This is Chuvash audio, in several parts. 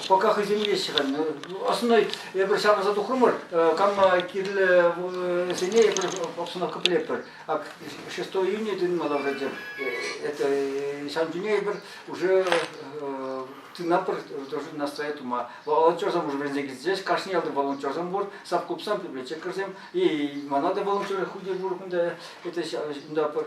Пока хӑйсемлеҫҫӗ-ха. Основной эпир ҫавӑрса тухрӑмӑр, канма кирлӗ сене эпир, собственно, кӑплетпӗр. А 6 июня тытмалла вроде. Это ҫан чуне эпир уже тынапӑр должны настроять ума. Волонтерсем уже вӗренсе килсеҫ, кашни ялти волонтерсем пур, сапкупсем, библиотекарьсем, и мана да волонтеры худи пур кунта, это унта пыр.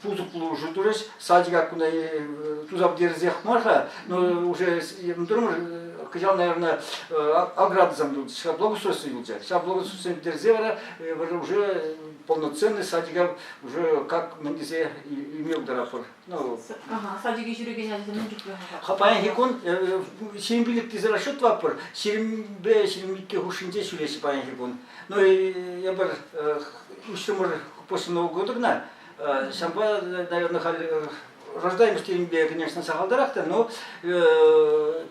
пусӑк пулӑшу турӗҫ. Садика кунта туса пӗтерсех мар-ха, но уже мтурмӑш кӑҫал, наверное, аградӑсем тунӑ. Ҫав благоустройство юлчӗ. Ҫав благоустройствосем пӗтерсе вара уже полноценный садика уже как мӗн тесе илме пултаратпӑр. Ну, садике ҫӳрекен ачасем мӗн чухлӗ? Паянхи кун ҫирӗм пилӗк тесе расчет тӑватпӑр. Ҫирӗмпе ҫирӗм икӗ хушшинче ҫӳреҫҫӗ паянхи кун. Ну, эпир уҫрӑмӑр почта нового года кӑна. Ҫавӑнпа, наверное, халь рождаемость теенипе, конечно, сахалтарах та, но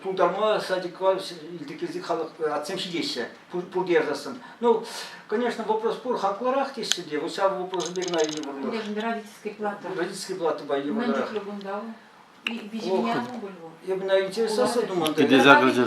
тултарма адекват илтекенсек халӑх атсем ҫитеҫҫӗ пурте ярсассӑн. Ну, конечно, вопрос пур, хаклӑрах теҫҫӗ те, вот ҫав вопросӑпе кӑна йывӑрлӑх. Родительский плата. Родительский платӑпа йывӑррах. Мӗн чухлӗ кунта вӑл? Виҫи меня оно было. Я бы, наверное, интересовался, думаю,